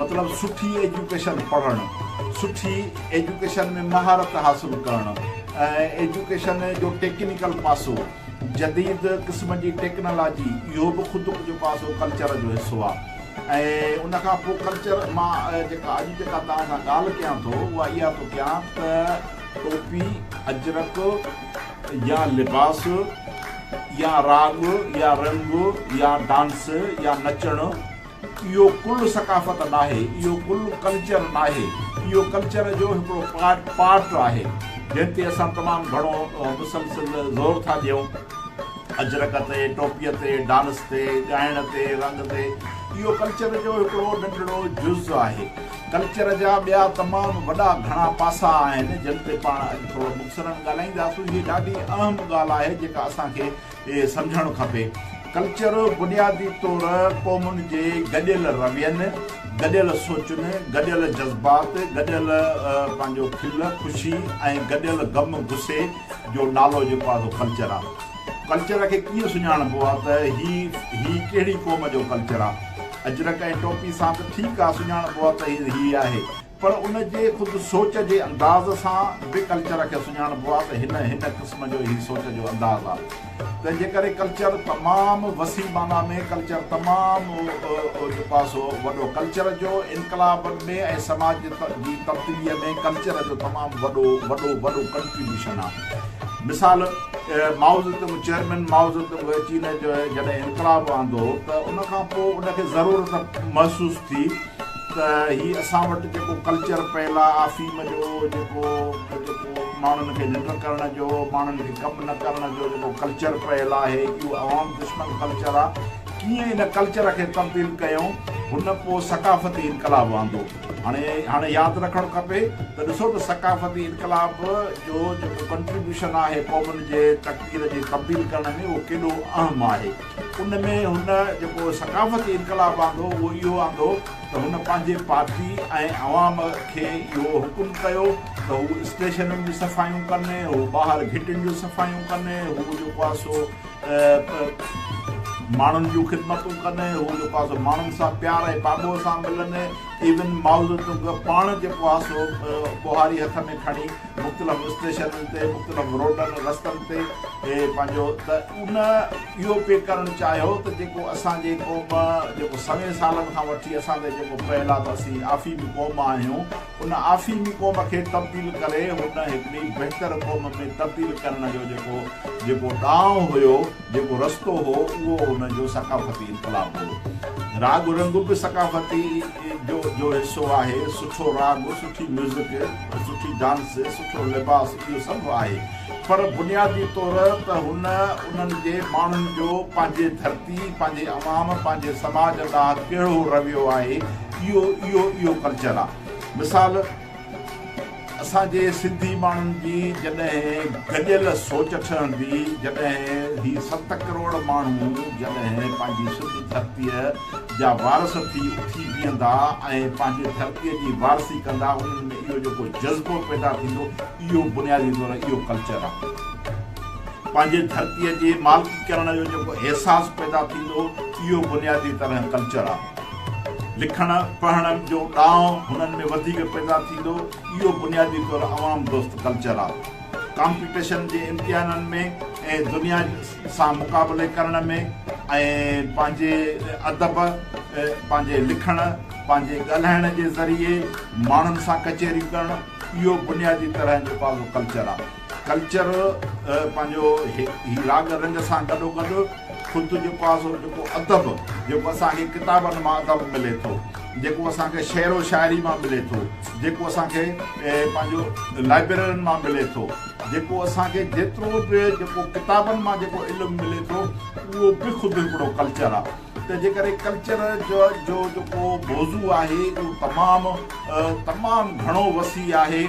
مطلب سٺي ايجوڪيشن پڙهڻ، سٺي ايجوڪيشن ۾ مهارت حاصل ڪرڻ ۽ ايجوڪيشن جو ٽيڪنيڪل پاسو، جديد قسم جي ٽيڪنالاجي اهو به خود جيڪو آهي سو ڪلچر جو حصو آهي ۽ ان کان پوء ڪلچر مان جيڪا اڄ جيڪا توهان سان ڳالهه ڪيان ٿو اها اها ٿو ڪيان ته ٽوپي، اجرڪ يا لباس يا راڳ يا رنگ يا ڊانس يا نچڻ، اهو ڪل ثقافت ناهي، اهو ڪل ڪلچر ناهي، اهو ڪلچر جو هڪڙو پارٽ پارٽ آهي، جنهن تي اسان تمام گهڻو مسلسل زور ٿا ڏيون، اجرڪ تي، ٽوپيء تي، ڊانس تي، ڳائڻ تي، رنگ تي، اهو ڪلچر جو هڪڙو ننڍڙو جز آهي، ڪلچر جا ٻيا تمام وڏا گهڻا پاسا آهن، جن تي پاڻ اڄ ٿورو مختصراً ڳالهائينداسون، هيء ڏاڍي اهم ڳالهه آهي، جيڪا اسان کي کي سمجهڻ کپي. ڪلچر بنيادي طور قومن جي گڏيل روين، گڏيل سوچن، گڏيل جذبات، گڏيل پنهنجو کل، خوشي ۽ گڏيل غم، غصي جو نالو جيڪو آهي سو ڪلچر آهي. ڪلچر کي ڪيئن سڃاڻبو آهي ته هي هي ڪهڙي قوم جو ڪلچر آهي. اجرڪ ۽ ٽوپي سان ته ٺيڪ آهي سڃاڻبو آهي ته هي هي آهي. پر ان جي خود سوچ جي انداز سان به ڪلچر کي سڃاڻبو آهي ته هن هن قسم جو هي سوچ جو انداز آهي تنهن جي ڪري ڪلچر تمام وسيع معنيٰ ۾ ڪلچر تمام جيڪو آهي سو وڏو ڪلچر جو انقلابن ۾ ۽ سماج جي تبديليء ۾ ڪلچر جو تمام وڏو وڏو وڏو ڪنٽريبيوشن آهي مثال مائوزتم چيئرمين مائوزتم چين جو جڏهن انقلاب آندو ته ان کان پوء ان کي ضرورت محسوس ٿي ته هي اسان وٽ جيڪو ڪلچر پيل آ آفيم جو جيڪو جيڪو ماڻهن کي ننڊ ڪرڻ جو ماڻهن کي ڪم نه ڪرڻ جو جيڪو ڪلچر پيل آهي اهو عوام دشمن ڪلچر آ ڪيئن ان ڪلچر کي تبديل ڪيون هن پوء ثقافتي انقلاب آندو هاڻي هاڻي ياد رکڻ کپي ته ڏسو ته ثقافتي انقلاب جو جيڪو ڪنٽريبيوشن آهي قومن جي تقدير جي تبديل ڪرڻ ۾ اهو ڪيڏو اهم آهي ان ۾ هن جيڪو ثقافتي انقلاب آندو اهو اهو آندو ته هن پنهنجي پارٽي ۽ عوام کي اهو حڪم ڪيو ته هو اسٽيشنن جون صفايون ڪن هو ٻاهر گهٽين جون صفايون ڪن هو جيڪو آهي سو ماڻهن جون خدمتون ڪن هو جيڪو آهي سو ماڻهن سان پيار ۽ پاڳو سان ملن ايون مائوزو تونگ پاڻ جيڪو آهي سو ٻهاري هٿ ۾ کڻي مختلف اسٽيشنن تي مختلف روڊن رستن تي اهي پنهنجو ته ان اهو پي ڪرڻ چاهيو ته جيڪو اسان جي قوم جيڪو سوين سالن کان وٺي اسان تي جيڪو پيل آهي ته اسين آفيمي قوم آهيون ان آفيمي قوم کي تبديل ڪري هن هڪڙي بهتر قوم ۾ تبديل ڪرڻ جو جيڪو جيڪو ڏانء هيو جيڪو رستو هو اهو هن جو ثقافتي انقلاب هو. راڳ رنگ به ثقافتي جو جو حصو آهي. سٺو راڳ، سٺي ميوزڪ، سٺي ڊانس، سٺو لباس اهو سڀ آهي پر بنيادي طور ته هن انهن جي ماڻهن جو پنهنجي ڌرتي، پنهنجي عوام، پنهنجي سماج ڏانهن ڪهڙو رويو آهي اهو اهو اهو ڪلچر آ. مثال. اسان جي سنڌي ماڻهن جي جڏهن گڏيل سوچ ٺهندي جڏهن هي ست ڪروڙ ماڻهو جڏهن پنهنجي سنڌ ڌرتي جا وارث ٿي اٿي بيهندا ۽ پنهنجي ڌرتي جي وارثي ڪندا انهن ۾ اهو جيڪو جذبو پيدا ٿيندو اهو بنيادي طور اهو ڪلچر آهي پنهنجي ڌرتي جي مالڪي ڪرڻ جو جيڪو احساس پيدا ٿيندو اهو بنيادي طرح ڪلچر آهي. لکڻ پڙهڻ جو ڏانء هنن ۾ وڌيڪ پيدا ٿيندو، اهو بنيادي طور عوام دوست ڪلچر آ. ڪامپيٽيشن جي امتحانن ۾ ۽ دنيا سان مقابلي ڪرڻ ۾ ۽ پنهنجي ادب، پنهنجي لکڻ، پنهنجي ڳالهائڻ جي ذريعي ماڻهن سان ڪچهريون ڪرڻ، اهو بنيادي طرح جو پازو ڪلچر آ. ڪلچر پنهنجو هي راڳ رنگ سان گڏو گڏ خود جيڪو آهي سو جيڪو ادب جيڪو اسان کي ڪتابن مان ادب ملي ٿو جيڪو اسان کي شعر و شاعري مان ملي ٿو جيڪو اسان کي پنهنجو لائبريرين مان ملي ٿو جيڪو اسان کي جيترو به جيڪو ڪتابن مان جيڪو علم ملي ٿو اهو به خود هڪڙو ڪلچر آهي تنهنجي ڪري ڪلچر جو جو جيڪو موضوع آهي اهو تمام تمام گهڻو وسيع آهي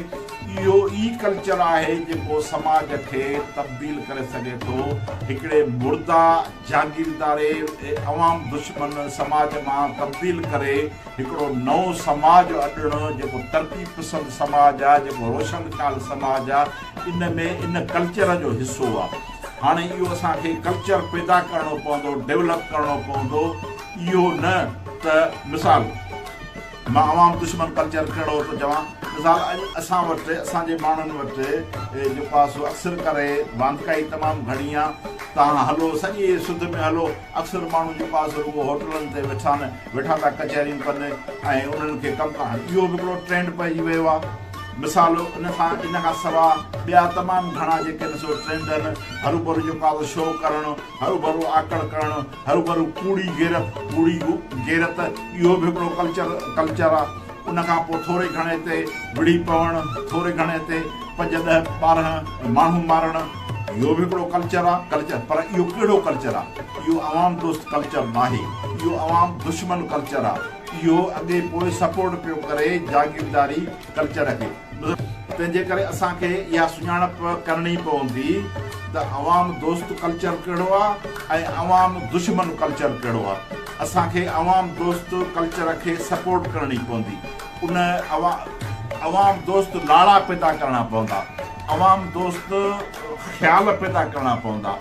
اهو ئي ڪلچر آهي جيڪو سماج کي تبديل ڪري سگهي ٿو هڪڙي مرده جاگيرداري عوام دشمن سماج مان تبديل ڪري هڪڙو نئون سماج اڏڻ جيڪو ترقي پسند سماج آهي جيڪو روشن خيال سماج آهي ان ۾ ان ڪلچر جو حصو آ هاڻي اهو اسان کي ڪلچر پيدا ڪرڻو پوندو ڊيولپ ڪرڻو پوندو اهو نه ته مثال مان عوام دشمن ڪلچر ڪهڙو ٿو چوان مثال اڄ اسان وٽ اسان جي ماڻهن وٽ جيڪو آ سو اڪثر ڪري واندڪائي تمام گهڻي آ تان هلو سڄي سڌ ۾ هلو اڪثر ماڻهو جيڪو آ سو رڳو هوٽلن تي ويٺا آهن ويٺا ٿا ڪچهريون ڪن ۽ انهن کي ڪم ڪرڻ اهو به هڪڙو ٽرينڊ پئجي ويو آ مثال ان کان ان کان سوا ٻيا تمام گهڻا جيڪي نه سو ٽرينڊن هروڀرو جيڪو آهي اهو شو ڪرڻ، هروڀرو آڪڙ ڪرڻ، هروڀرو ڪوڙي غيرت، ڪوڙي غيرت اهو به هڪڙو ڪلچر ڪلچر آهي. ان کان پوء ٿوري گهڻي تي وڙهي پوڻ، ٿوري گهڻي تي پنج ڏهه ٻارهن ماڻهو مارڻ اهو به هڪڙو ڪلچر آهي ڪلچر پر اهو ڪهڙو ڪلچر آهي اهو عوام دوست ڪلچر ناهي اهو عوام دشمن ڪلچر آهي. اهو اڳي پوء سپورٽ پيو ڪري جاگيرداري ڪلچر کي. تنهن جي ڪري اسان کي اها سڃاڻپ ڪرڻي پوندي ته عوام دوست ڪلچر ڪهڙو آ ۽ عوام دشمن ڪلچر ڪهڙو آ. اسان کي عوام دوست ڪلچر کي سپورٽ ڪرڻي پوندي. ان عوام دوست نالا پيدا ڪرڻا پوندا. عوام دوست خيال پيدا ڪرڻا پوندا.